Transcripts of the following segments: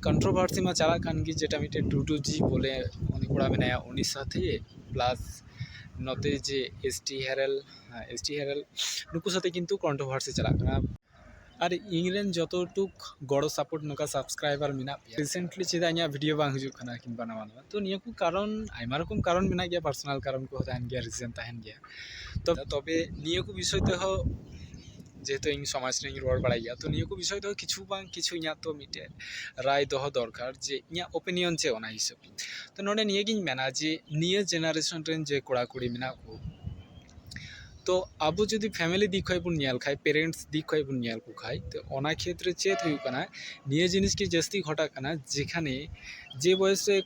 control ᱵᱷᱟᱨᱥᱤ ᱢᱟ ᱪᱟᱞᱟᱜ ᱠᱟᱱ ᱜᱮ ᱡᱮᱴᱟ ᱢᱤᱫᱴᱮᱡ ᱴᱩᱰᱩ ᱡᱤ ᱵᱚᱞᱮ ᱩᱱᱤ ᱠᱚᱲᱟ ᱢᱮᱱᱟᱭᱟ ᱩᱱᱤ ᱥᱟᱛᱷᱮ ᱯᱞᱟᱥ ᱱᱚᱛᱮ ᱡᱮ ᱮᱥ ᱴᱤ ᱦᱮᱨᱮᱞ ᱮᱥ ᱴᱤ ᱦᱮᱨᱮᱞ ᱱᱩᱠᱩ ᱥᱟᱛᱮᱜ ᱠᱤᱱᱛᱩ ᱠᱚᱱᱴᱨᱳ ᱵᱷᱟᱨᱥᱤ ᱪᱟᱞᱟᱜ ᱠᱟᱱᱟ ᱟᱨ ᱤᱧ ᱨᱮᱱ ᱡᱚᱛᱚ ᱴᱩᱠ ᱜᱚᱲᱚ ᱥᱟᱯᱳᱨᱴ ᱱᱚᱝᱠᱟ ᱥᱟᱵᱥᱠᱨᱟᱭᱵᱟᱨ ᱢᱮᱱᱟᱜ ᱯᱮᱭᱟ ᱨᱤᱥᱮᱱᱴᱞᱤ ᱪᱮᱫᱟᱜ ᱤᱧᱟᱹᱜ ᱵᱷᱤᱰᱭᱳ ᱵᱟᱝ ᱦᱤᱡᱩᱜ ᱠᱟᱱᱟ ᱠᱤᱢᱵᱟ ᱱᱟᱣᱟ ᱱᱟᱣᱟ ᱛᱚ ᱱᱤᱭᱟᱹ ᱠᱚ ᱠᱟᱨᱚᱱ ᱟᱭᱢᱟ ᱨᱚᱠᱚᱢ ᱠᱟᱨᱚᱱ ᱢᱮᱱᱟᱜ ᱜᱮᱭᱟ ᱯᱟᱨᱥᱳᱱᱟᱞ ᱠᱟᱨᱚᱱ ᱠᱚᱦᱚᱸ ᱛᱟᱦᱮᱱ ᱜᱮᱭᱟ ᱨᱤᱡᱮᱱ ᱛᱟᱦᱮᱱ ᱜᱮᱭᱟ ᱛᱚᱵᱮ ᱱᱤᱭᱟᱹ ᱠᱚ ᱵᱤᱥᱚᱭ ᱛᱮᱦᱚᱸ ᱡᱮᱦᱮᱛᱩ ᱤᱧ ᱥᱚᱢᱟᱡᱽ ᱨᱮᱧ ᱨᱚᱲ ᱵᱟᱲᱟᱭ ᱜᱮᱭᱟ ᱛᱚ ᱱᱤᱭᱟᱹ ᱠᱚ ᱵᱤᱥᱚᱭ ᱫᱚ ᱠᱤᱪᱷᱩ ᱵᱟᱝ ᱠᱤᱪᱷᱩ ᱤᱧᱟᱹᱜ ᱛᱚ ᱢᱤᱫᱴᱮᱡ ᱨᱟᱭ ᱫᱚᱦᱚ ᱫᱚᱨᱠᱟᱨ ᱡᱮ ᱤᱧᱟᱹᱜ ᱳᱯᱤᱱᱤᱭᱚᱱ ᱪᱮᱫ ᱚᱱᱟ ᱦᱤᱥᱟᱹᱵ ᱛᱮ ᱛᱚ ᱱᱚᱰᱮ ᱱᱤᱭᱟᱹ ᱜᱮᱧ ᱢᱮᱱᱟ ᱡᱮ ᱱᱤᱭᱟᱹ ᱡᱮᱱᱟᱨᱮᱥᱚᱱ ᱨᱮᱱ ᱡᱮ ᱠᱚᱲᱟᱼᱠᱩᱲᱤ ᱢᱮᱱᱟᱜ ᱠᱚ ᱛᱚ ᱟᱵᱚ ᱡᱩᱫᱤ ᱯᱷᱮᱢᱮᱞᱤ ᱫᱤᱠ ᱠᱷᱚᱡ ᱵᱚᱱ ᱧᱮᱞ ᱠᱷᱟᱡ ᱯᱮᱨᱮᱱᱴᱥ ᱫᱤᱠ ᱠᱷᱚᱡ ᱵᱚᱱ ᱧᱮᱞ ᱠᱚ ᱠᱷᱟᱡ ᱛᱚ ᱚᱱᱟ ᱠᱷᱮᱛᱨᱮ ᱪᱮᱫ ᱦᱩᱭᱩᱜ ᱠᱟᱱᱟ ᱱᱤᱭᱟᱹ ᱡᱤᱱᱤᱥ ᱜᱮ ᱡᱟᱹᱥᱛᱤ ᱜᱷᱚᱴᱟᱜ ᱠᱟᱱᱟ ᱡᱮᱠᱷᱟᱱᱮ ᱡᱮ ᱵᱚᱭᱮᱥ ᱨᱮ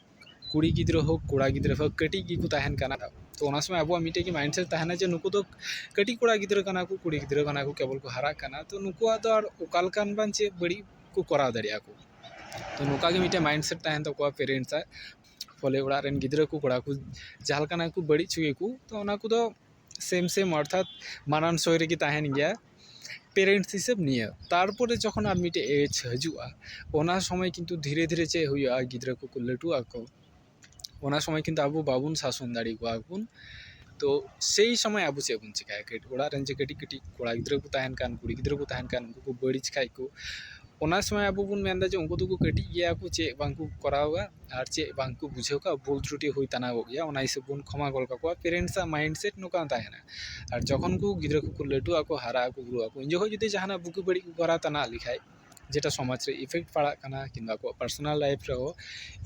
ᱠᱩᱲᱤ ᱜᱤᱫᱽᱨᱟᱹ ᱦᱳᱠ ᱠᱚᱲᱟ ᱜᱤᱫᱽᱨᱟᱹ ᱦᱳᱠ ᱠᱟᱹᱴᱤᱡ ᱜᱮᱠᱚ ᱛᱟᱦᱮᱱ ᱠᱟᱱᱟ ᱛᱚ ᱚᱱᱟ ᱥᱚᱢᱚᱭ ᱟᱵᱚᱣᱟᱜ ᱢᱤᱫᱴᱮᱡ ᱜᱮ ᱢᱟᱭᱤᱱᱰ ᱥᱮᱹᱴ ᱛᱟᱦᱮᱱᱟ ᱡᱮ ᱱᱩᱠᱩ ᱫᱚ ᱠᱟᱹᱴᱤᱡ ᱠᱚᱲᱟ ᱜᱤᱫᱽᱨᱟᱹ ᱠᱟᱱᱟ ᱠᱚ ᱠᱩᱲᱤ ᱜᱤᱫᱽᱨᱟᱹ ᱠᱟᱱᱟ ᱠᱚ ᱠᱮᱵᱚᱞ ᱠᱚ ᱦᱟᱨᱟᱜ ᱠᱟᱱᱟ ᱛᱚ ᱱᱩᱠᱩᱣᱟᱜ ᱫᱚ ᱟᱨ ᱚᱠᱟ ᱞᱮᱠᱟᱱ ᱵᱟᱝ ᱪᱮᱫ ᱵᱟᱹᱲᱤᱡ ᱠᱚ ᱠᱚᱨᱟᱣ ᱫᱟᱲᱮᱭᱟᱜᱼᱟ ᱠᱚ ᱛᱚ ᱱᱚᱝᱠᱟ ᱜᱮ ᱢᱤᱫᱴᱮᱡ ᱢᱟᱭᱤᱱᱰ ᱥᱮᱹᱴ ᱛᱟᱦᱮᱱ ᱛᱟᱠᱚᱣᱟ ᱯᱮᱨᱮᱱᱴᱥ ᱟᱜ ᱯᱷᱚᱞᱮ ᱚᱲᱟᱜ ᱨᱮᱱ ᱜᱤᱫᱽᱨᱟᱹ ᱠᱚ ᱠᱚᱲᱟ ᱠᱚ ᱡᱟᱦᱟᱸ ᱞᱮᱠᱟᱱᱟᱜ ᱜᱮᱠᱚ ᱵᱟᱹᱲᱤᱡ ᱦᱚᱪᱚᱭᱮᱠᱚ ᱛᱚ ᱚᱱᱟ ᱠᱚᱫᱚ ᱥᱮᱹᱢ ᱥᱮᱹᱢ ᱚᱨᱛᱷᱟᱛ ᱢᱟᱱᱟᱱᱥᱳᱭ ᱨᱮᱜᱮ ᱛᱟᱦᱮᱱ ᱜᱮᱭᱟ ᱯᱮᱨᱮᱱᱴᱥ ᱦᱤᱥᱟᱹᱵ ᱱᱤᱭᱟᱹ ᱛᱟᱨᱯᱚᱨᱮ ᱡᱚᱠᱷᱚᱱ ᱟᱨ ᱢᱤᱫᱴᱮᱡ ᱮᱡᱽ ᱦᱤᱡᱩᱜᱼᱟ ᱚᱱᱟ ᱥᱚᱢᱚᱭ ᱠᱤᱱᱛᱩ ᱫᱷᱤᱨᱮ ᱫᱷᱤᱨᱮ ᱪᱮᱫ ᱦᱩᱭᱩᱜᱼᱟ ᱜᱤᱫᱽᱨᱟᱹ ᱠᱚᱠᱚ ᱞᱟᱹᱴᱩᱜ ᱟᱠᱚ ᱚᱱᱟ ᱥᱚᱢᱚᱭ ᱠᱤᱱᱛᱩ ᱟᱵᱚ ᱵᱟᱵᱚᱱ ᱥᱟᱥᱚᱱ ᱫᱟᱲᱮ ᱠᱚᱣᱟ ᱵᱚᱱ ᱛᱚ ᱥᱮᱭ ᱥᱚᱢᱚᱭ ᱟᱵᱚ ᱪᱮᱫ ᱵᱚᱱ ᱪᱮᱠᱟᱭᱟ ᱚᱲᱟᱜ ᱨᱮᱱ ᱡᱮ ᱠᱟᱹᱴᱤᱡ ᱠᱟᱹᱴᱤᱡ ᱠᱚᱲᱟ ᱜᱤᱫᱽᱨᱟᱹ ᱠᱚ ᱛᱟᱦᱮᱱ ᱠᱟᱱ ᱠᱩᱲᱤ ᱜᱤᱫᱽᱨᱟᱹ ᱠᱚ ᱛᱟᱦᱮᱱ ᱠᱟᱱ ᱩᱱᱠᱩ ᱠᱚ ᱵᱟᱹᱲᱤᱡ ᱠᱷᱟᱡ ᱠᱚ ᱚᱱᱟ ᱥᱚᱢᱚᱭ ᱟᱵᱚ ᱵᱚᱱ ᱢᱮᱱᱫᱟ ᱡᱮ ᱩᱱᱠᱩ ᱫᱚᱠᱚ ᱠᱟᱹᱴᱤᱡ ᱜᱮᱭᱟ ᱠᱚ ᱪᱮᱫ ᱵᱟᱝ ᱠᱚ ᱠᱚᱨᱟᱣᱟ ᱟᱨ ᱪᱮᱫ ᱵᱟᱝ ᱠᱚ ᱵᱩᱡᱷᱟᱹᱣ ᱠᱟᱜᱼᱟ ᱵᱷᱩᱞ ᱛᱨᱩᱴᱤ ᱦᱩᱭ ᱛᱟᱱᱟᱜᱚᱜ ᱜᱮᱭᱟ ᱚᱱᱟ ᱦᱤᱥᱟᱹᱵ ᱵᱚᱱ ᱠᱷᱚᱢᱟ ᱜᱚᱫ ᱠᱟᱠᱚᱣᱟ ᱯᱮᱨᱮᱱᱴᱥ ᱟᱜ ᱢᱟᱭᱤᱱᱰ ᱥᱮᱴ ᱱᱚᱝᱠᱟ ᱦᱚᱸ ᱛᱟᱦᱮᱱᱟ ᱟᱨ ᱡᱚᱠᱷᱚᱱ ᱠᱚ ᱜᱤᱫᱽᱨᱟᱹ ᱠᱚᱠᱚ ᱞᱟᱹᱴᱩᱜ ᱟᱠᱚ ᱦᱟᱨᱟᱜ ᱟᱠᱚ ᱵᱩᱨᱩᱜ ᱟᱠᱚ ᱩᱱ ᱡᱚᱠᱷᱚᱡ ᱡᱩᱫᱤ ᱡᱟᱦᱟᱱᱟᱜ ᱵᱩᱜᱤ ᱵᱟᱹᱲᱤᱡ ᱠᱚ ᱠᱚᱨᱟᱣ ᱛᱟᱱᱟ ᱞᱮᱠᱷᱟᱡ ᱡᱮᱴᱟ ᱥᱚᱢᱟᱡᱽ ᱨᱮ ᱤᱯᱷᱮᱠᱴ ᱯᱟᱲᱟᱜ ᱠᱟᱱᱟ ᱠᱤᱢᱵᱟ ᱟᱠᱚᱣᱟᱜ ᱯᱟᱨᱥᱳᱱᱟᱞ ᱞᱟᱭᱤᱯᱷ ᱨᱮᱦᱚᱸ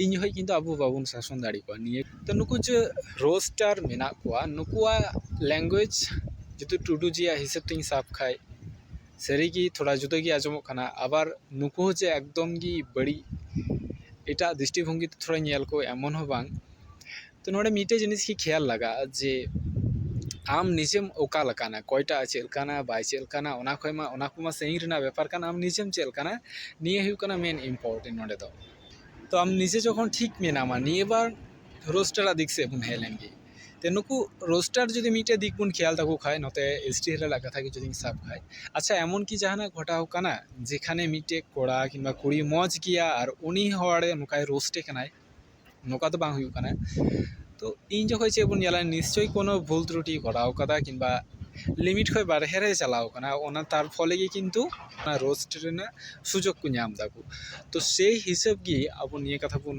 ᱤᱧ ᱡᱚᱠᱷᱚᱡ ᱠᱤᱱᱛᱩ ᱟᱵᱚ ᱵᱟᱵᱚᱱ ᱥᱟᱥᱚᱱ ᱫᱟᱲᱮ ᱠᱚᱣᱟ ᱱᱤᱭᱟᱹ ᱛᱚ ᱱᱩᱠᱩ ᱡᱮ ᱨᱳᱥᱴᱟᱨ ᱢᱮᱱᱟᱜ ᱠᱚᱣᱟ ᱱᱩᱠᱩᱣᱟᱜ ᱞᱮᱝᱜᱩᱭᱮᱡᱽ ᱡᱩᱫᱤ ᱴᱩᱰᱩᱡᱤᱭᱟᱜ ᱦᱤᱥᱟᱹᱵ ᱛᱤᱧ ᱥᱟᱵ ᱠᱷᱟᱡ ᱥᱟᱹᱨᱤᱜᱮ ᱛᱷᱚᱲᱟ ᱡᱩᱫᱟᱹ ᱜᱮ ᱟᱸᱡᱚᱢᱚᱜ ᱠᱟᱱᱟ ᱟᱵᱟᱨ ᱱᱩᱠᱩ ᱦᱚᱸ ᱡᱮ ᱮᱠᱫᱚᱢ ᱜᱮ ᱵᱟᱹᱲᱤᱡ ᱮᱴᱟᱜ ᱫᱨᱤᱥᱴᱤ ᱵᱷᱚᱝᱜᱤ ᱛᱮ ᱛᱷᱚᱲᱟᱧ ᱧᱮᱞ ᱠᱚᱣᱟ ᱮᱢᱚᱱ ᱦᱚᱸ ᱵᱟᱝ ᱛᱚ ᱱᱚᱰᱮ ᱢᱤᱫᱴᱮᱡ ᱡᱤᱱᱤᱥ ᱜᱮ ᱠᱷᱮᱭᱟᱞ ᱞᱟᱜᱟᱜᱼᱟ ᱡᱮ ᱟᱢ ᱱᱤᱡᱮᱢ ᱚᱠᱟ ᱞᱮᱠᱟᱱᱟ ᱚᱠᱚᱭᱴᱟᱜ ᱪᱮᱫ ᱞᱮᱠᱟᱱᱟ ᱵᱟᱭ ᱪᱮᱫ ᱞᱮᱠᱟᱱᱟ ᱚᱱᱟ ᱠᱷᱚᱡ ᱢᱟ ᱚᱱᱟ ᱠᱚᱢᱟ ᱥᱟᱹᱜᱤᱧ ᱨᱮᱱᱟᱜ ᱵᱮᱯᱟᱨ ᱠᱟᱱᱟ ᱟᱢ ᱱᱤᱡᱮᱢ ᱪᱮᱫ ᱞᱮᱠᱟᱱᱟ ᱱᱤᱭᱟᱹ ᱦᱩᱭᱩᱜ ᱠᱟᱱᱟ ᱢᱮᱱ ᱤᱢᱯᱳᱨᱴᱮᱱᱴ ᱱᱚᱰᱮ ᱫᱚ ᱛᱚ ᱟᱢ ᱱᱤᱡᱮ ᱡᱚᱠᱷᱚᱱ ᱴᱷᱤᱠ ᱢᱮᱱᱟᱢᱟ ᱱᱤᱭᱟᱹ ᱵᱟᱨ ᱨᱳᱥᱴᱟᱨᱟᱜ ᱫᱤᱠ ᱥᱮᱡ ᱵᱚᱱ ᱦᱮᱡ ᱞᱮᱱᱜᱮ ᱛᱚ ᱱᱩᱠᱩ ᱨᱳᱥᱴᱟᱨ ᱡᱩᱫᱤ ᱢᱤᱫᱴᱮᱡ ᱫᱤᱠ ᱵᱚᱱ ᱠᱷᱮᱭᱟᱞ ᱛᱟᱠᱚ ᱠᱷᱟᱡ ᱱᱚᱛᱮ ᱮᱥ ᱴᱤ ᱨᱮᱱᱟᱜ ᱠᱟᱛᱷᱟ ᱜᱮ ᱡᱩᱫᱤᱧ ᱥᱟᱵ ᱠᱷᱟᱡ ᱟᱪᱪᱷᱟ ᱮᱢᱚᱱ ᱠᱤ ᱡᱟᱦᱟᱱᱟᱜ ᱜᱷᱚᱴᱟᱣ ᱠᱟᱱᱟ ᱡᱮᱠᱷᱟᱱᱮ ᱢᱤᱫᱴᱮᱡ ᱠᱚᱲᱟ ᱠᱤᱢᱵᱟ ᱠᱩᱲᱤ ᱢᱚᱡᱽ ᱜᱮᱭᱟ ᱟᱨ ᱩᱱᱤ ᱦᱚᱲ ᱱᱚᱝᱠᱟᱭ ᱨᱳᱥᱴᱮ ᱠᱟᱱᱟᱭ ᱱᱚᱝᱠᱟ ᱫᱚ ᱵᱟᱝ ᱦᱩᱭᱩᱜ ᱠᱟᱱᱟ ᱛᱚ ᱤᱧ ᱡᱚᱠᱷᱚᱡ ᱪᱮᱫ ᱵᱚᱱ ᱧᱮᱞᱟ ᱱᱤᱥᱪᱳᱭ ᱠᱳᱱᱳ ᱵᱷᱩᱞ ᱛᱨᱩᱴᱤ ᱠᱚᱨᱟᱣ ᱠᱟᱫᱟ ᱠᱤᱢᱵᱟ ᱞᱤᱢᱤᱴ ᱠᱷᱚᱡ ᱵᱟᱦᱨᱮ ᱨᱮ ᱪᱟᱞᱟᱣ ᱠᱟᱱᱟ ᱚᱱᱟ ᱛᱟᱨ ᱯᱷᱚᱞᱮ ᱜᱮ ᱠᱤᱱᱛᱩ ᱚᱱᱟ ᱨᱳᱥᱴ ᱨᱮᱱᱟᱜ ᱥᱩᱡᱳᱜᱽ ᱠᱚ ᱧᱟᱢ ᱫᱟᱠᱚ ᱛᱚ ᱥᱮᱭ ᱦᱤᱥᱟᱹᱵ ᱜᱮ ᱟᱵᱚ ᱱᱤᱭᱟᱹ ᱠᱟᱛᱷᱟ ᱵᱚᱱ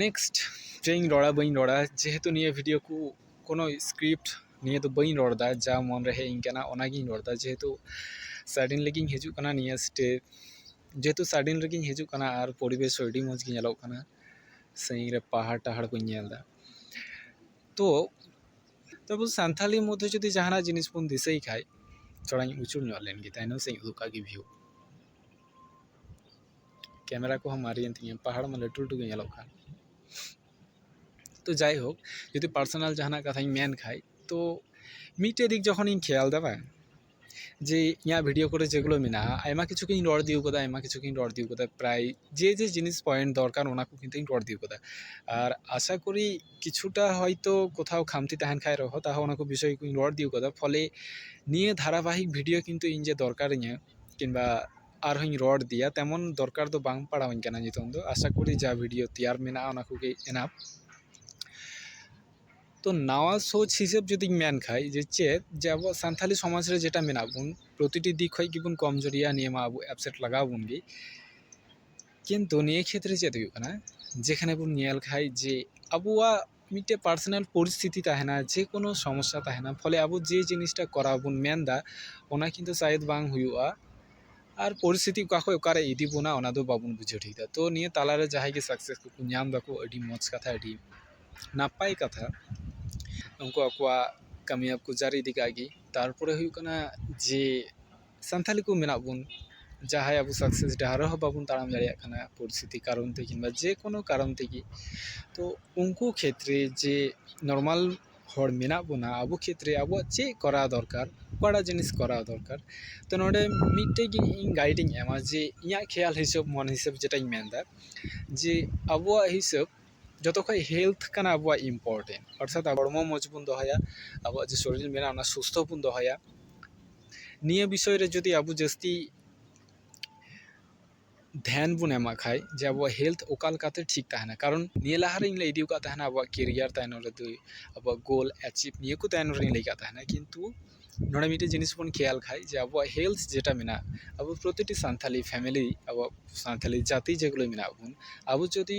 ᱱᱮᱠᱥᱴ ᱪᱮᱫ ᱤᱧ ᱨᱚᱲᱟ ᱵᱟᱹᱧ ᱨᱚᱲᱟ ᱡᱮᱦᱮᱛᱩ ᱱᱤᱭᱟᱹ ᱵᱷᱤᱰᱭᱳ ᱠᱚ ᱠᱳᱱᱳ ᱥᱠᱨᱤᱯᱴ ᱱᱤᱭᱟᱹ ᱫᱚ ᱵᱟᱹᱧ ᱨᱚᱲᱫᱟ ᱡᱟ ᱢᱚᱱᱨᱮ ᱦᱮᱡ ᱤᱧ ᱠᱟᱱᱟ ᱚᱱᱟᱜᱤᱧ ᱨᱚᱲᱫᱟ ᱡᱮᱦᱮᱛᱩ ᱥᱟᱰᱮᱱᱞᱤ ᱜᱤᱧ ᱦᱤᱡᱩᱜ ᱠᱟᱱᱟ ᱱᱤᱭᱟᱹ ᱥᱴᱮᱯ ᱡᱮᱦᱮᱛᱩ ᱥᱟᱰᱮᱱ ᱨᱮᱜᱤᱧ ᱦᱤᱡᱩᱜ ᱠᱟᱱᱟ ᱟᱨ ᱯᱚᱨᱤᱵᱮᱥ ᱦᱚᱸ ᱟᱹᱰᱤ ᱢᱚᱡᱽ ᱜᱮ ᱧᱮᱞᱚᱜ ᱠᱟᱱᱟ ᱥᱟᱺᱜᱤᱧ ᱨᱮ ᱯᱟᱦᱟᱲ ᱴᱟᱦᱟᱲ ᱠᱚᱧ ᱧᱮᱞᱫᱟ ᱛᱚ ᱛᱚᱵᱩ ᱥᱟᱱᱛᱷᱟᱞᱤ ᱢᱚᱫᱽᱫᱷᱮ ᱡᱩᱫᱤ ᱡᱟᱦᱟᱱᱟᱜ ᱡᱤᱱᱤᱥ ᱵᱚᱱ ᱫᱤᱥᱟᱹᱭ ᱠᱷᱟᱡ ᱛᱷᱚᱲᱟᱧ ᱩᱪᱩᱲ ᱧᱚᱜ ᱞᱮᱱᱜᱮ ᱛᱟᱭᱱᱚᱢ ᱥᱮᱫ ᱤᱧ ᱩᱫᱩᱜ ᱠᱟᱜ ᱜᱮ ᱵᱷᱤᱭᱩ ᱠᱮᱢᱮᱨᱟ ᱠᱚᱦᱚᱸ ᱢᱟᱨᱮᱭᱮᱱ ᱛᱤᱧᱟᱹ ᱯᱟᱦᱟᱲ ᱢᱟ ᱞᱟᱹᱴᱩ ᱞᱟᱹᱴᱩ ᱜᱮ ᱧᱮᱞᱚᱜ ᱠᱟᱱ ᱛᱚ ᱡᱟᱭᱦᱳᱠ ᱡᱩᱫᱤ ᱯᱟᱨᱥᱚᱱᱟᱞ ᱡᱟᱦᱟᱱᱟᱜ ᱠᱟᱛᱷᱟᱧ ᱢᱮᱱ ᱠᱷᱟᱡ ᱛᱚ ᱢᱤᱫᱴᱮᱡ ᱫᱤᱠ ᱡᱚᱠᱷᱚᱱᱤᱧ ᱠᱷᱮᱭᱟᱞᱫᱟ ᱵᱟᱝ ᱡᱮ ᱤᱧᱟᱹᱜ ᱵᱷᱤᱰᱤᱭᱳ ᱠᱚᱨᱮ ᱡᱮᱜᱩᱞᱳ ᱢᱮᱱᱟᱜᱼᱟ ᱟᱭᱢᱟ ᱠᱤᱪᱷᱩ ᱜᱤᱧ ᱨᱚᱲ ᱤᱫᱤᱣ ᱠᱟᱫᱟ ᱟᱭᱢᱟ ᱠᱤᱪᱷᱩ ᱜᱤᱧ ᱨᱚᱲ ᱤᱫᱤᱣ ᱠᱟᱫᱟ ᱯᱨᱟᱭ ᱡᱮ ᱡᱮ ᱡᱤᱱᱤᱥ ᱯᱚᱭᱮᱱᱴ ᱫᱚᱨᱠᱟᱨ ᱚᱱᱟ ᱠᱚ ᱠᱤᱱᱛᱩᱧ ᱨᱚᱲ ᱤᱫᱤᱣ ᱠᱟᱫᱟ ᱟᱨ ᱟᱥᱟ ᱠᱚᱨᱤ ᱠᱤᱪᱷᱩᱴᱟ ᱦᱚᱭᱛᱳ ᱠᱳᱛᱷᱟᱣ ᱠᱷᱟᱢᱛᱤ ᱛᱟᱦᱮᱱ ᱠᱷᱟᱡ ᱨᱮᱦᱚᱸ ᱛᱟᱦᱚ ᱚᱱᱟ ᱠᱚ ᱵᱤᱥᱚᱭ ᱠᱚᱧ ᱨᱚᱲ ᱤᱫᱤᱣ ᱠᱟᱫᱟ ᱯᱷᱚᱞᱮ ᱱᱤᱭᱟᱹ ᱫᱷᱟᱨᱟᱵᱟᱦᱤᱠ ᱵᱷᱤᱰᱤᱭᱳ ᱠᱤᱱᱛᱩ ᱤᱧ ᱡᱮ ᱫᱚᱨᱠᱟᱨᱤᱧᱟᱹ ᱠᱤᱢᱵᱟ ᱟᱨ ᱦᱚᱸᱧ ᱨᱚᱲ ᱤᱫᱤᱭᱟ ᱛᱮᱢᱚᱱ ᱫᱚᱨᱠᱟᱨ ᱫᱚ ᱵᱟᱝ ᱯᱟᱲᱟᱣ ᱟᱹᱧ ᱠᱟᱱᱟ ᱱᱤᱛᱚᱝ ᱫᱚ ᱟᱥᱟ ᱠᱚᱨᱤ ᱡᱟ ᱵᱷᱤᱰᱭᱳ ᱛᱮᱭᱟᱨ ᱢᱮᱱᱟᱜᱼᱟ ᱚᱱᱟ ᱠᱚᱜᱮ ᱮᱱᱟᱯᱷ ᱛᱚ ᱱᱟᱣᱟ ᱥᱳᱪ ᱦᱤᱥᱟᱹᱵ ᱡᱩᱫᱤᱧ ᱢᱮᱱ ᱠᱷᱟᱡ ᱡᱮ ᱪᱮᱫ ᱡᱮ ᱟᱵᱚ ᱥᱟᱱᱛᱟᱲᱤ ᱥᱚᱢᱟᱡᱽ ᱨᱮ ᱡᱮᱴᱟ ᱢᱮᱱᱟᱜ ᱵᱚᱱ ᱯᱨᱚᱛᱤᱴᱤ ᱫᱤᱠ ᱠᱷᱚᱡ ᱜᱮᱵᱚᱱ ᱠᱚᱢ ᱡᱩᱨᱤ ᱜᱮᱭᱟ ᱱᱤᱭᱟᱹ ᱢᱟ ᱟᱵᱚ ᱮᱯᱥᱮᱴ ᱞᱟᱜᱟᱣ ᱵᱚᱱ ᱜᱮ ᱠᱤᱱᱛᱩ ᱱᱤᱭᱟᱹ ᱠᱷᱮᱛᱨᱮ ᱪᱮᱫ ᱦᱩᱭᱩᱜ ᱠᱟᱱᱟ ᱡᱮᱠᱷᱟᱱᱮ ᱵᱚᱱ ᱧᱮᱞ ᱠᱷᱟᱡ ᱡᱮ ᱟᱵᱚᱣᱟᱜ ᱢᱤᱫᱴᱮᱱ ᱯᱟᱨᱥᱳᱱᱟᱞ ᱯᱚᱨᱤᱥᱛᱷᱤᱛᱤ ᱛᱟᱦᱮᱱᱟ ᱡᱮ ᱠᱳᱱᱳ ᱥᱚᱢᱚᱥᱥᱟ ᱛᱟᱦᱮᱱᱟ ᱯᱷᱚᱞᱮ ᱟᱵᱚ ᱡᱮ ᱡᱤᱱᱤᱥᱴᱟ ᱠᱚᱨᱟᱣ ᱵᱚᱱ ᱢᱮᱱᱫᱟ ᱚᱱᱟ ᱠᱤᱱᱛᱩ ᱥᱟᱭᱮᱫ ᱵᱟᱝ ᱦᱩᱭᱩᱜᱼᱟ ᱟᱨ ᱯᱚᱨᱤᱥᱛᱷᱤᱛᱤ ᱚᱠᱟ ᱠᱷᱚᱱ ᱚᱠᱟᱨᱮ ᱤᱫᱤ ᱵᱚᱱᱟ ᱚᱱᱟ ᱫᱚ ᱵᱟᱵᱚᱱ ᱵᱩᱡᱷᱟᱹᱣ ᱴᱷᱤᱠᱫᱟ ᱛᱳ ᱱᱤᱭᱟᱹ ᱛᱟᱞᱟ ᱨᱮ ᱡᱟᱦᱟᱸᱭ ᱜᱮ ᱥᱟᱠᱥᱮᱥ ᱠᱚᱠᱚ ᱧᱟᱢ ᱫᱟᱠᱚ ᱟᱹᱰᱤ ᱢᱚᱡᱽ ᱠᱟᱛᱷᱟ ᱟᱹᱰᱤ ᱱᱟᱯᱟᱭ ᱠᱟᱛᱷᱟ ᱩᱱᱠᱩ ᱟᱠᱚᱣᱟᱜ ᱠᱟᱹᱢᱤᱭᱟᱹ ᱠᱚ ᱡᱟᱹᱨᱤ ᱤᱫᱤ ᱠᱟᱜ ᱜᱮ ᱛᱟᱨᱯᱚᱨᱮ ᱦᱩᱭᱩᱜ ᱠᱟᱱᱟ ᱡᱮ ᱥᱟᱱᱛᱟᱲᱤ ᱠᱚ ᱢᱮᱱᱟᱜ ᱵᱚᱱ ᱡᱟᱦᱟᱸᱭ ᱟᱵᱚ ᱥᱟᱠᱥᱮᱥ ᱰᱟᱦᱟᱨ ᱨᱮᱦᱚᱸ ᱵᱟᱵᱚᱱ ᱛᱟᱲᱟᱢ ᱫᱟᱲᱮᱭᱟᱜ ᱠᱟᱱᱟ ᱯᱚᱨᱤᱥᱛᱷᱤᱛᱤ ᱠᱟᱨᱚᱱ ᱛᱮ ᱠᱤᱢᱵᱟ ᱡᱮ ᱠᱳᱱᱳ ᱠᱟᱨᱚᱱ ᱛᱮᱜᱮ ᱛᱚ ᱩᱱᱠᱩ ᱠᱷᱮᱛᱨᱮ ᱡᱮ ᱱᱚᱨᱢᱟᱞ ᱦᱚᱲ ᱢᱮᱱᱟᱜ ᱵᱚᱱᱟ ᱟᱵᱚ ᱠᱷᱮᱛᱨᱮ ᱟᱵᱚᱣᱟᱜ ᱪᱮᱫ ᱠᱚᱨᱟᱣ ᱫᱚᱨᱠᱟᱨ ᱚᱠᱟᱴᱟᱜ ᱡᱤᱱᱤᱥ ᱠᱚᱨᱟᱣ ᱫᱚᱨᱠᱟᱨ ᱛᱚ ᱱᱚᱰᱮ ᱢᱤᱫᱴᱮᱡ ᱜᱮ ᱤᱧ ᱜᱟᱭᱤᱰ ᱤᱧ ᱮᱢᱟ ᱡᱮ ᱤᱧᱟᱹᱜ ᱠᱷᱮᱭᱟᱞ ᱦᱤᱥᱟᱹᱵ ᱢᱚᱱᱮ ᱦᱤᱥᱟᱹᱵ ᱡᱮᱴᱟᱧ ᱢᱮᱱᱫᱟ ᱡᱮ ᱟᱵᱚᱣᱟᱜ ᱦᱤᱥᱟᱹᱵ ᱡᱚᱛᱚ ᱠᱷᱚᱡ ᱦᱮᱞᱛᱷ ᱠᱟᱱᱟ ᱟᱵᱚᱣᱟᱜ ᱤᱢᱯᱳᱨᱴᱮᱱᱴ ᱚᱨᱛᱷᱟᱛ ᱦᱚᱲᱢᱚ ᱢᱚᱡᱽ ᱵᱚᱱ ᱫᱚᱦᱚᱭᱟ ᱟᱵᱚᱣᱟᱜ ᱡᱮ ᱥᱚᱨᱤᱨ ᱢᱮᱱᱟᱜᱼᱟ ᱚᱱᱟ ᱥᱩᱥᱛᱷᱚ ᱵᱚᱱ ᱫᱚᱦᱚᱭᱟ ᱱᱤᱭᱟᱹ ᱵᱤᱥᱚᱭ ᱨᱮ ᱡᱩᱫᱤ ᱟᱵᱚ ᱡᱟᱹᱥᱛᱤ ᱫᱷᱮᱭᱟᱱ ᱵᱚᱱ ᱮᱢᱟᱜ ᱠᱷᱟᱡ ᱡᱮ ᱟᱵᱚᱣᱟᱜ ᱦᱮᱞᱛᱷ ᱚᱠᱟ ᱞᱮᱠᱟᱛᱮ ᱴᱷᱤᱠ ᱛᱟᱦᱮᱱᱟ ᱠᱟᱨᱚᱱ ᱱᱤᱭᱟᱹ ᱞᱟᱦᱟ ᱨᱤᱧ ᱞᱟᱹᱭ ᱤᱫᱤᱣ ᱠᱟᱜ ᱛᱟᱦᱮᱱᱟ ᱟᱵᱚᱣᱟᱜ ᱠᱮᱨᱤᱭᱟᱨ ᱛᱟᱭᱱᱚᱢ ᱨᱮ ᱫᱚ ᱟᱵᱚᱣᱟᱜ ᱜᱳᱞ ᱮᱪᱤᱵᱷ ᱱᱤᱭᱟᱹ ᱠᱚ ᱛᱟᱭᱱᱚᱢ ᱨᱤᱧ ᱞᱟᱹᱭ ᱠᱟᱜ ᱛᱟᱦᱮᱱᱟ ᱠᱤᱱᱛᱩ ᱱᱚᱰᱮ ᱢᱤᱫᱴᱮᱡ ᱡᱤᱱᱤᱥ ᱵᱚᱱ ᱠᱷᱮᱭᱟᱞ ᱠᱷᱟᱡ ᱡᱮ ᱟᱵᱚᱣᱟᱜ ᱦᱮᱞᱛᱷ ᱡᱮᱴᱟ ᱢᱮᱱᱟᱜ ᱟᱵᱚ ᱯᱨᱚᱛᱤᱴᱤ ᱥᱟᱱᱛᱷᱟᱞᱤ ᱯᱷᱮᱢᱮᱞᱤ ᱟᱵᱚᱣᱟᱜ ᱥᱟᱱᱛᱷᱟᱞᱤ ᱡᱟᱹᱛᱤ ᱡᱮᱜᱩᱞᱟᱹ ᱢᱮᱱᱟᱜ ᱵᱚᱱ ᱟᱵᱚ ᱡᱩᱫᱤ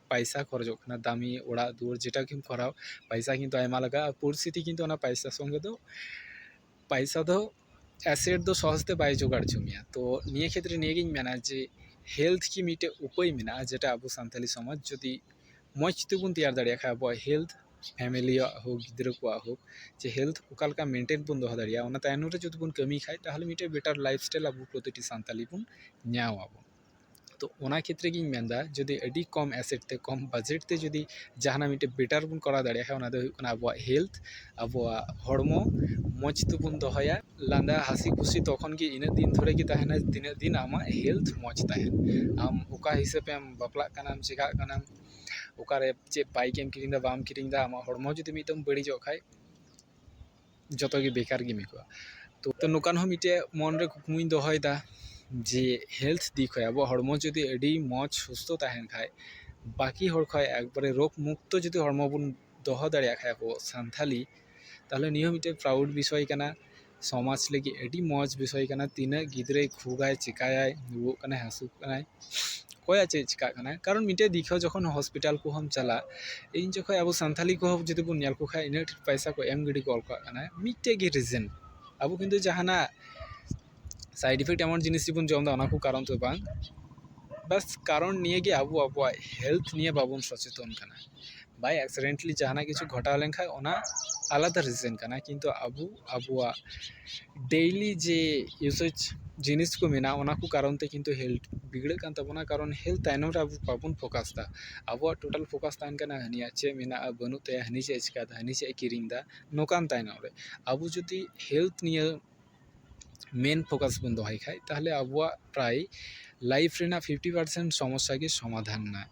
ᱯᱟᱭᱥᱟ ᱠᱷᱚᱨᱚᱪᱚᱜ ᱠᱟᱱᱟ ᱫᱟᱹᱢᱤ ᱚᱲᱟᱜ ᱫᱩᱣᱟᱹᱨ ᱡᱮᱴᱟ ᱜᱮᱢ ᱠᱚᱨᱟᱣ ᱯᱟᱭᱥᱟ ᱠᱤᱱᱛᱩ ᱟᱭᱢᱟ ᱞᱟᱜᱟᱜᱼᱟ ᱯᱚᱨᱤᱥᱛᱷᱤᱛᱤ ᱠᱤᱱᱛᱩ ᱚᱱᱟ ᱯᱟᱭᱥᱟ ᱥᱚᱸᱜᱮ ᱫᱚ ᱯᱟᱭᱥᱟ ᱫᱚ ᱮᱥᱮᱨ ᱫᱚ ᱥᱚᱦᱚᱡᱽ ᱛᱮ ᱵᱟᱭ ᱡᱳᱜᱟᱲ ᱦᱚᱪᱚ ᱢᱮᱭᱟ ᱛᱚ ᱱᱤᱭᱟᱹ ᱠᱷᱮᱛᱨᱮ ᱱᱤᱭᱟᱹ ᱜᱤᱧ ᱢᱮᱱᱟ ᱡᱮ ᱦᱮᱞᱛᱷ ᱜᱮ ᱢᱤᱫᱴᱮᱡ ᱩᱯᱟᱹᱭ ᱢᱮᱱᱟᱜᱼᱟ ᱡᱮᱴᱟ ᱟᱵᱚ ᱥᱟᱱᱛᱟᱲᱤ ᱥᱚᱢᱟᱡᱽ ᱡᱩᱫᱤ ᱢᱚᱡᱽ ᱛᱮᱵᱚᱱ ᱛᱮᱭᱟᱨ ᱫᱟᱲᱮᱭᱟᱜ ᱠᱷᱟᱡ ᱟᱵᱚᱣᱟᱜ ᱦᱮᱞᱛᱷ ᱯᱷᱮᱢᱮᱞᱤᱭᱟᱜ ᱦᱳᱠ ᱜᱤᱫᱽᱨᱟᱹ ᱠᱚᱣᱟᱜ ᱦᱳᱠ ᱡᱮ ᱦᱮᱞᱛᱷ ᱚᱠᱟ ᱞᱮᱠᱟ ᱢᱮᱱᱴᱮᱱ ᱵᱚᱱ ᱫᱚᱦᱚ ᱫᱟᱲᱮᱭᱟᱜᱼᱟ ᱚᱱᱟ ᱛᱟᱭᱱᱚᱢ ᱨᱮ ᱡᱩᱫᱤ ᱵᱚᱱ ᱠᱟᱹᱢᱤ ᱠᱷᱟᱡ ᱛᱟᱦᱚᱞᱮ ᱢᱤᱫᱴᱮᱡ ᱵᱮᱴᱟᱨ ᱞᱟᱭᱤᱯᱷ ᱥᱴᱟᱭᱤᱞ ᱟᱵᱚ ᱯᱨᱚᱛᱤᱴᱤ ᱥᱟᱱᱛᱟᱲᱤ ᱵᱚᱱ ᱧᱟᱢ ᱟᱵᱚᱱ ᱛᱚ ᱚᱱᱟ ᱠᱷᱮᱛᱨᱮ ᱜᱤᱧ ᱢᱮᱱᱫᱟ ᱡᱩᱫᱤ ᱟᱹᱰᱤ ᱠᱚᱢ ᱮᱥᱮᱴ ᱛᱮ ᱠᱚᱢ ᱵᱟᱡᱮᱴ ᱛᱮ ᱡᱩᱫᱤ ᱡᱟᱦᱟᱱᱟᱜ ᱢᱤᱫᱴᱤᱡ ᱵᱮᱴᱟᱨ ᱵᱚᱱ ᱠᱚᱨᱟᱣ ᱫᱟᱲᱮᱭᱟᱜ ᱠᱷᱟᱱ ᱚᱱᱟ ᱫᱚ ᱦᱩᱭᱩᱜ ᱠᱟᱱᱟ ᱟᱵᱚᱣᱟᱜ ᱦᱮᱞᱛᱷ ᱟᱵᱚᱣᱟᱜ ᱦᱚᱲᱢᱚ ᱢᱚᱡᱽ ᱛᱮᱵᱚᱱ ᱫᱚᱦᱚᱭᱟ ᱞᱟᱸᱫᱟ ᱦᱟᱹᱥᱤ ᱠᱷᱩᱥᱤ ᱛᱚᱠᱷᱚᱱ ᱜᱮ ᱤᱱᱟᱹᱜ ᱫᱤᱱ ᱫᱷᱚᱨᱮ ᱜᱮ ᱛᱟᱦᱮᱱᱟ ᱛᱤᱱᱟᱹᱜ ᱫᱤᱱ ᱟᱢᱟᱜ ᱦᱮᱞᱛᱷ ᱢᱚᱡᱽ ᱛᱟᱦᱮᱱᱟ ᱟᱢ ᱚᱠᱟ ᱦᱤᱥᱟᱹᱵ ᱮᱢ ᱵᱟᱯᱞᱟᱜ ᱠᱟᱱᱟᱢ ᱪᱤᱠᱟᱹᱜ ᱠᱟᱱᱟᱢ ᱚᱠᱟᱨᱮ ᱪᱮᱫ ᱵᱟᱭᱤᱠ ᱮᱢ ᱠᱤᱨᱤᱧᱫᱟ ᱵᱟᱢ ᱠᱤᱨᱤᱧᱫᱟ ᱟᱢᱟᱜ ᱦᱚᱲᱢᱚ ᱡᱩᱫᱤ ᱢᱤᱫ ᱫᱚᱢ ᱵᱟᱹᱲᱤᱡᱚᱜ ᱠᱷᱟᱱ ᱡᱚᱛᱚ ᱜᱮ ᱵᱮᱠᱟᱨ ᱜᱮᱢ ᱟᱹᱭᱠᱟᱹᱣᱟ ᱛᱚ ᱱᱚᱝᱠᱟᱱ ᱦᱚᱸ ᱢᱤᱫᱴᱮᱡ ᱢᱚᱱ ᱨᱮ ᱠᱩᱠᱢᱩᱧ ᱫᱚᱦᱚᱭᱮᱫᱟ ᱡᱮ ᱦᱮᱞᱛᱷ ᱫᱤᱠ ᱠᱷᱚᱡ ᱟᱵᱚᱣᱟᱜ ᱦᱚᱲᱢᱚ ᱡᱩᱫᱤ ᱟᱹᱰᱤ ᱢᱚᱡᱽ ᱥᱩᱥᱛᱷᱚ ᱛᱟᱦᱮᱱ ᱠᱷᱟᱡ ᱵᱟᱹᱠᱤ ᱦᱚᱲ ᱠᱷᱚᱡ ᱮᱠᱵᱟᱨᱮ ᱨᱳᱜᱽ ᱢᱩᱠᱛᱚ ᱡᱩᱫᱤ ᱦᱚᱲᱢᱚ ᱵᱚᱱ ᱫᱚᱦᱚ ᱫᱟᱲᱮᱭᱟᱜ ᱠᱷᱟᱡ ᱟᱵᱚ ᱥᱟᱱᱛᱷᱟᱞᱤ ᱛᱟᱦᱚᱞᱮ ᱱᱤᱭᱟᱹ ᱦᱚᱸ ᱢᱤᱫᱴᱮᱡ ᱯᱨᱟᱣᱩᱰ ᱵᱤᱥᱚᱭ ᱠᱟᱱᱟ ᱥᱚᱢᱟᱡᱽ ᱞᱟᱹᱜᱤᱫ ᱟᱹᱰᱤ ᱢᱚᱡᱽ ᱵᱤᱥᱚᱭ ᱠᱟᱱᱟ ᱛᱤᱱᱟᱹᱜ ᱜᱤᱫᱽᱨᱟᱹᱭ ᱠᱷᱩᱜᱟᱭ ᱪᱤᱠᱟᱭᱟᱭ ᱨᱩᱣᱟᱹᱜ ᱠᱟᱱᱟᱭ ᱦᱟᱹᱥᱩᱜ ᱠᱟᱱᱟᱭ ᱚᱠᱚᱭᱟᱜ ᱪᱮᱫ ᱪᱤᱠᱟᱹᱜ ᱠᱟᱱᱟ ᱠᱟᱨᱚᱱ ᱢᱤᱫᱴᱮᱱ ᱫᱤᱠᱩ ᱡᱚᱠᱷᱚᱱ ᱦᱚᱥᱯᱤᱴᱟᱞ ᱠᱚᱦᱚᱸᱢ ᱪᱟᱞᱟᱜ ᱤᱧ ᱡᱚᱠᱷᱚᱱ ᱟᱵᱚ ᱥᱟᱱᱛᱟᱲᱤ ᱠᱚᱦᱚᱸ ᱡᱩᱫᱤ ᱵᱚᱱ ᱧᱮᱞ ᱠᱚᱠᱷᱟᱱ ᱤᱱᱟᱹᱜ ᱰᱷᱮᱨ ᱯᱚᱭᱥᱟ ᱠᱚ ᱮᱢ ᱜᱤᱰᱤ ᱜᱚᱫ ᱠᱟᱜ ᱠᱟᱱᱟ ᱢᱤᱫᱴᱮᱱ ᱜᱮ ᱨᱤᱡᱮᱱ ᱟᱵᱚ ᱠᱤᱱᱛᱩ ᱡᱟᱦᱟᱱᱟᱜ ᱥᱟᱭᱤᱰ ᱤᱯᱷᱮᱠᱴ ᱮᱢᱚᱱ ᱡᱤᱱᱤᱥ ᱜᱮᱵᱚᱱ ᱡᱚᱢᱫᱟ ᱚᱱᱟ ᱠᱚ ᱠᱟᱨᱚᱱ ᱛᱮᱫᱚ ᱵᱟᱝ ᱵᱟᱥ ᱠᱟᱨᱚᱱ ᱱᱤᱭᱟᱹᱜᱮ ᱟᱵᱚ ᱟᱵᱚᱣᱟᱜ ᱦᱮᱞᱛᱷ ᱱᱤᱭᱮ ᱵᱟᱵᱚᱱ ᱥᱚᱪᱮᱛᱚᱱ ᱠᱟᱱᱟ ᱵᱟᱭ ᱮᱠᱥᱤᱰᱮᱱᱴᱞᱤ ᱡᱟᱦᱟᱱᱟᱜ ᱠᱤᱪᱷᱩ ᱜᱷᱚᱴᱟᱣ ᱞᱮᱱᱠᱷᱟᱡ ᱚᱱᱟ ᱟᱞᱟᱫᱟ ᱨᱤᱡᱮᱱ ᱠᱟᱱᱟ ᱠᱤᱱᱛᱩ ᱟᱵᱚ ᱟᱵᱚᱣᱟᱜ ᱰᱮᱞᱤ ᱡᱮ ᱤᱭᱩᱥᱮᱡᱽ ᱡᱤᱱᱤᱥ ᱠᱚ ᱢᱮᱱᱟᱜᱼᱟ ᱚᱱᱟ ᱠᱚ ᱠᱟᱨᱚᱱ ᱛᱮ ᱠᱤᱱᱛᱩ ᱦᱮᱞᱛᱷ ᱵᱤᱜᱽᱲᱟᱹᱜ ᱠᱟᱱ ᱛᱟᱵᱚᱱᱟ ᱠᱟᱨᱚᱱ ᱦᱮᱞᱛᱷ ᱛᱟᱭᱱᱚᱢ ᱨᱮ ᱟᱵᱚ ᱵᱟᱵᱚᱱ ᱯᱷᱳᱠᱟᱥᱫᱟ ᱟᱵᱚᱣᱟᱜ ᱴᱳᱴᱟᱞ ᱯᱷᱳᱠᱟᱥ ᱛᱟᱦᱮᱱ ᱠᱟᱱᱟ ᱦᱟᱹᱱᱤᱭᱟᱜ ᱪᱮᱫ ᱢᱮᱱᱟᱜᱼᱟ ᱵᱟᱹᱱᱩᱜ ᱛᱟᱭᱟ ᱦᱟᱹᱱᱤ ᱪᱮᱫ ᱮ ᱪᱤᱠᱟᱹᱭᱫᱟ ᱦᱟᱹᱱᱤ ᱪᱮᱫ ᱮ ᱠᱤᱨᱤᱧᱫᱟ ᱱᱚᱝᱠᱟᱱ ᱛᱟᱭᱱᱚᱢ ᱨᱮ ᱟᱵᱚ ᱡᱩᱫᱤ ᱦᱮᱞᱛᱷ ᱱᱤᱭᱟᱹ ᱢᱮᱱ ᱯᱷᱳᱠᱟᱥ ᱵᱚᱱ ᱫᱚᱦᱚᱭ ᱠᱷᱟᱡ ᱛᱟᱦᱚᱞᱮ ᱟᱵᱚᱣᱟᱜ ᱯᱨᱟᱭ ᱞᱟᱭᱤᱯᱷ ᱨᱮᱱᱟᱜ ᱯᱷᱤᱯᱴᱤ ᱯᱟᱨᱥᱮᱱᱴ ᱥᱚᱢᱚᱥᱥᱟ ᱜᱮ ᱥᱚᱢᱟᱫᱷᱟᱱ ᱮᱱᱟ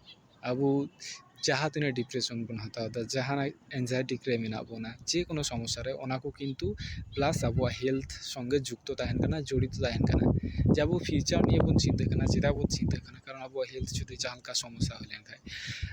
ᱟᱵᱚ ᱡᱟᱦᱟᱸ ᱛᱤᱱᱟᱹᱜ ᱰᱤᱯᱨᱮᱥᱚᱱ ᱵᱚᱱ ᱦᱟᱛᱟᱣᱫᱟ ᱡᱟᱦᱟᱸᱭ ᱮᱱᱡᱟᱭᱴᱤ ᱨᱮ ᱢᱮᱱᱟᱜ ᱵᱚᱱᱟ ᱡᱮᱠᱳᱱᱳ ᱥᱚᱢᱚᱥᱥᱟ ᱨᱮ ᱚᱱᱟ ᱠᱚ ᱠᱤᱱᱛᱩ ᱯᱞᱟᱥ ᱟᱵᱚᱣᱟᱜ ᱦᱮᱞᱛᱷ ᱥᱚᱝᱜᱮ ᱡᱩᱠᱛᱚ ᱛᱟᱦᱮᱱ ᱠᱟᱱᱟ ᱡᱚᱲᱤᱛᱚ ᱛᱟᱦᱮᱱ ᱠᱟᱱᱟ ᱡᱮ ᱟᱵᱚ ᱯᱷᱤᱭᱩᱪᱟᱨ ᱱᱤᱭᱮ ᱵᱚᱱ ᱪᱤᱱᱛᱟᱹᱜ ᱠᱟᱱᱟ ᱪᱮᱫᱟᱜ ᱵᱚᱱ ᱪᱤᱱᱛᱟᱹᱜ ᱠᱟᱱᱟ ᱠᱟᱨᱚᱱ ᱟᱵᱚᱣᱟᱜ ᱦᱮᱞᱛᱷ ᱡᱩᱫᱤ ᱡᱟᱦᱟᱸ ᱞᱮᱠᱟ ᱥᱚᱢᱚᱥᱥᱟ ᱦᱩᱭ ᱞᱮᱱᱠᱷᱟᱡ